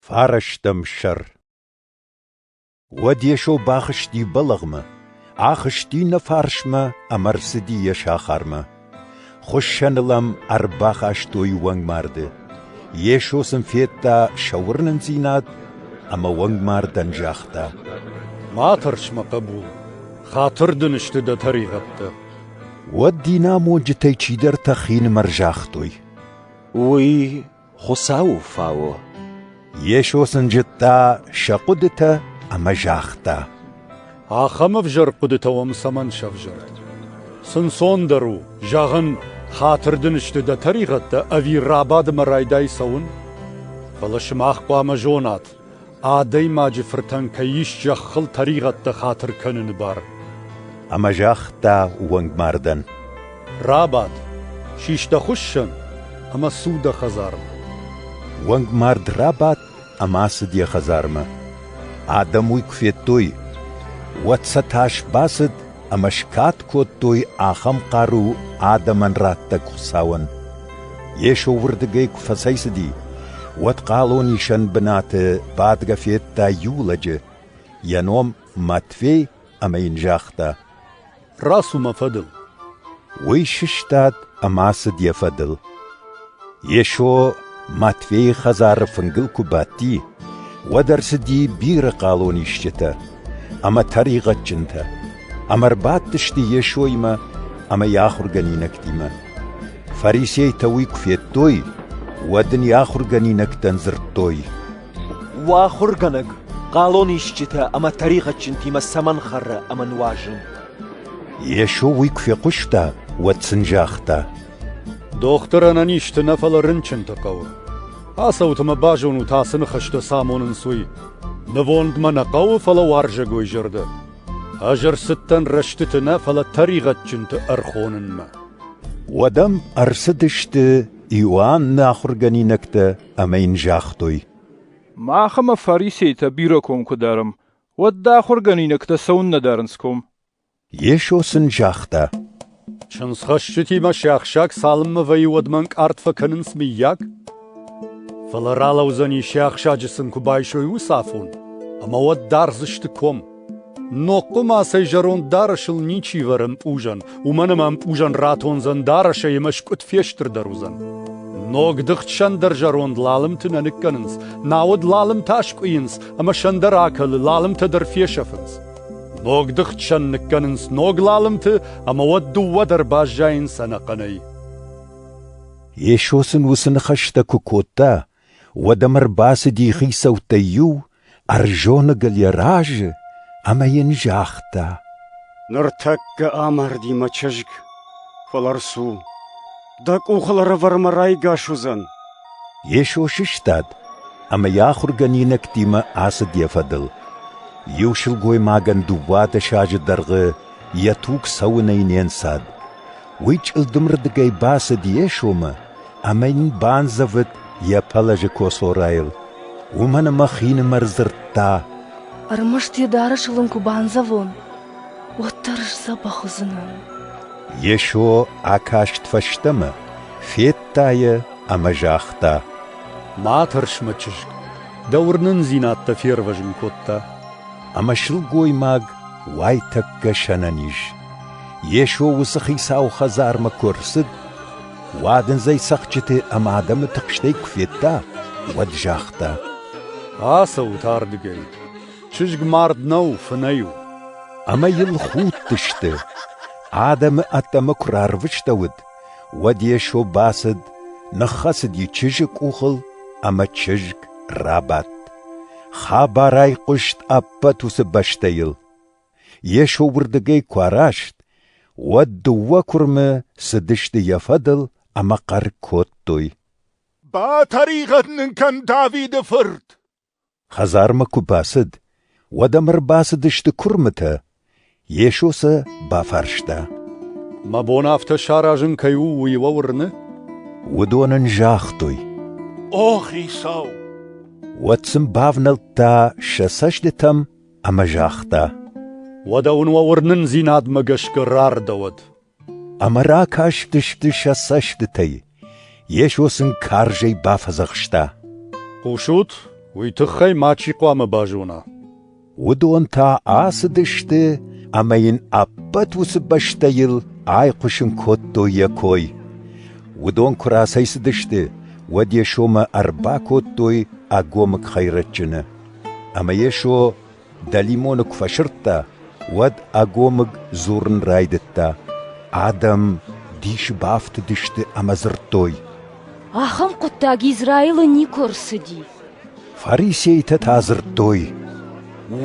Фарӕстӕм сӕр Уӕд Йесо бахызти бӕлӕгъмӕ, ахызти нӕ фарсмӕ ӕмӕ рцыди йӕ сахармӕ. Хуыссӕныл ӕм ӕрбахастой уӕнгмарды. Йесо сын федта сӕ уырнындзинад ӕмӕ уӕнгмардӕн загъта: «Ма тӕрс, мӕ хъӕбул, хатыр дын сты дӕ тӕригъӕдтӕ». Уӕд динамонджытӕй чидӕртӕ хинымӕр загътой: «Уый Хуыцауы фау. Йесо сын зыдта сӕ хъуыдытӕ ӕмӕ загъта: Ахӕм ӕвзӕр хъуыдытӕ уӕм цӕмӕн сӕвзӕрд? Ӕнцондӕр у, зӕгъын, хатыр дын сты дӕ тӕригъӕдтӕ ӕви рабадынмӕ райдай цӕуын? Фӕлӕ сымах хъуамӕ зонат, Адӕймаджы фыртӕн кӕй ис зӕххыл тӕригъӕдтӕ хатыр кӕныны бар. Ӕмӕ загъта уӕнгмардӕн: «Рабад, сис дӕ хуыссӕн ӕмӕ цу дӕ хӕдзармӕ». Уӕнгмард рабадт ӕмӕ ацыд йӕ хӕдзармӕ. Адӕм уый куы федтой, уӕд сӕ тас бацыд ӕмӕ скад кодтой ахӕм хъару адӕмӕн радтӕг Хуыцауӕн. Йесо уырдыгӕй куы фӕцӕйцыди, уӕд хъалонисӕн бынаты бадгӕ федта иу лӕджы, йӕ ном Матфей, ӕмӕ йын загъта: «Рацу мӕ фӕдыл!» Уый сыстад ӕмӕ ацыд йӕ фӕдыл. Йесо Матфейы хӕдзары фынгыл куы бадти, уӕд ӕрцыди бирӕ хъалон исджытӕ ӕмӕ тӕригъӕдджынтӕ, ӕмӕ ӕрбадтысты Йесоимӕ ӕмӕ йӕ ахуыргӕнинӕгтимӕ. Фарисейтӕ уый куы федтой, уӕд Ын йӕ ахуыргӕнинӕгтӕн дзырдтой, «Уӕ ахуыргӕнӕг хъалон исджытӕ ӕмӕ тӕригъӕдджынтимӕ цӕмӕн хӕры ӕмӕ нуазы?» Йесо уый куы фехъуыста, уӕд сын загъта, Дохтыр ӕнӕнизты нӕ, фӕлӕ рынчынты хъӕуы. Ацӕуты мӕ базонут ацы ныхӕстӕ цы амонынц, уый. Нывонд мӕ нӕ хъӕуы, фӕлӕ уарзӕгой зӕрдӕ. Ӕз ӕрцыдтӕн рӕстыты нӕ, фӕлӕ тӕригъӕдджынты ӕрхонынмӕ. Уӕдӕм ӕрцыдысты Иоанны ахуыргӕнинӕгтӕ ӕмӕ йын загътой. Мах ӕмӕ фарисейтӕ бирӕ ком куы дарӕм, уӕд дӕ ахуыргӕнинӕгтӕ цӕуыннӕ дарынц ком? Йесо сын загъта, Чындзхӕсджытимӕ се ахсӕг цалынмӕ вӕййы, уӕдмӕ ӕнкъард фӕкӕнынц, мыййаг? Фӕлӕ ралӕудзӕни, се ахсӕджы сын куы байсой уыцы афон, ӕмӕ уӕд дардзысты ком. Ногхъуы мацӕй зӕронд дарӕсыл ничи вӕры ӕмпъузӕн, уымӕн ӕмӕ ӕмпъузӕн ратондзӕн дарӕсӕй ӕмӕ скъуыд фестырдӕр уыдзӕн. Ног дыхтсӕндӕр зӕронд лалымты нӕ ныккӕнынц, науӕд лалымтӕ аскъуыйынц ӕмӕ сӕндӕр акӕлы, лалымтӕ дӕр фесӕфынц. Ног дыхтсӕн ныккӕнынц ног лалымты ӕмӕ уӕд дыууӕ дӕр баззайынц ӕнӕхъӕнӕй. Йесо сын уыцы ныхӕстӕ куы кодта, уӕд ӕм ӕрбацыди хицӕуттӕй иу, ӕрзоныг ыл йӕ разы, ӕмӕ йын загъта: «Ныртӕккӕ амарди мӕ чызг, фӕлӕ рцу. Дӕ къухыл ӕрӕвӕрмӕ райгас уыдзӕн. Йесо сыстад ӕмӕ йӕ ахуыргӕнинӕгтимӕ ацыд йӕ фӕдыл. Иу сылгоймагӕн дыууадӕс азы дӕргъы йӕ туг цӕуынӕй не нцад. Уый чъылдымырдыгӕй бацыд Йесомӕ ӕмӕ йын бандзӕвыд йӕ пӕлӕзы коцорайыл. Уымӕн ӕмӕ хинымӕр дзырдта: «Ӕрмӕст йӕ дарӕсыл ын куы бандзӕвон!» уӕддӕр сдзӕбӕх уыдзынӕн. Йесо акаст фӕстӕмӕ, федта йӕ ӕмӕ загъта: Ма тӕрс, мӕ чызг, дӕ уырнындзинӕдтӕ фервӕзын кодта. Ӕмӕ сылгоймаг уайтӕккӕ сӕнӕниз. Йесо уыцы хицауы хӕдзармӕ куы ӕрцыд, уадындзӕй цӕхджыты ӕмӕ адӕмы тыхстӕй куы федта, уӕд загъта: Ацӕут ардыгӕй. Чызг мард нӕу, фынӕй у. Ӕмӕ йыл худтысты. Адӕмы ӕддӕмӕ куы рарвыстӕуыд, уӕд Йесо бацыд, ныххӕцыд йӕ чызджы къухыл, ӕмӕ чызг рабадт. Хабарӕй хъуыст ӕппӕт уыцы бӕстӕйыл. Йесо уырдыгӕй куы араст, уӕд дыууӕ куырмы цыдысты йӕ фӕдыл ӕмӕ хъӕр кодтой. «Батӕригъӕд нын кӕн Давиды фырт!» Хӕдзармӕ куы бацыд, уӕд ӕм ӕрбацыдысты куырмытӕ. Йесо сӕ бафарста. Мӕ бон афтӕ саразын кӕй у, уый уӕ уырны? Уыдон ын загътой. О, Хицау! Уӕд сын бавнӕлдта сӕ цӕстытӕм ӕмӕ загъта. Уӕдӕ уын уӕ уырнындзинадмӕ гӕсгӕ рардӕуӕд. Ӕмӕ ракастысты сӕ цӕстытӕй. Йесо сын карзӕй бафӕдзӕхста. Хъусут, уый тыххӕй мачи хъуамӕ базона. Уыдон та ацыдысты ӕмӕ йын ӕппӕт уыцы бӕстӕйыл айхъуысын кодтой йӕ кой. Уыдон куы рацӕйцыдысты, уӕд Йесомӕ ӕрбакодтой ӕгомыг хӕйрӕджджыны. Ӕмӕ Йесо Дӕлимоны куы фӕсырдта, уӕд ӕгомыг дзурын райдыдта: Адӕм дисы бафтыдысты ӕмӕ дзырдтой: «Ахӕм хъуыддаг Израилы никуы ӕрцыди». Фарисейтӕ та дзырдтой: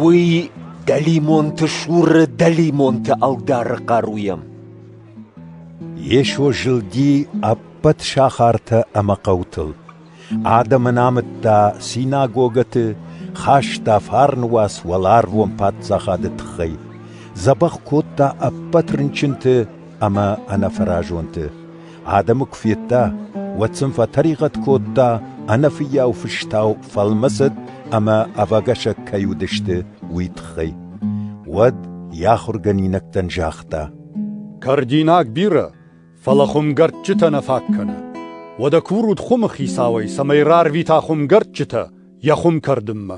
«Уый дӕлимонты суры дӕлимонты ӕлдары хъаруйӕ». Йесо зылди ӕппӕт сахартӕ ӕмӕ хъӕутыл. Адӕм ын амыдта синагогӕты, хаста фарны уац уӕларвон паддзахады тыххӕй, дзӕбӕх кодта ӕппӕт рынчынты ӕмӕ ӕнӕфӕразонты. Адӕмы куы федта, уӕд сын фӕтӕригъӕд кодта, ӕнӕфыййау фыстау фӕлмӕцыд ӕмӕ ӕвӕгӕсӕг кӕй уыдысты, уый тыххӕй. Уӕд йӕ ахуыргӕнинӕгтӕн загъта: «Кӕрдинаг бирӕ, фӕлӕ хуымгӕрдджытӕ нӕ фаг кӕны. Уӕдӕ курут хуымы хицауӕй, цӕмӕй рарвита хуымгӕрдджытӕ йӕ хуым кӕрдынмӕ.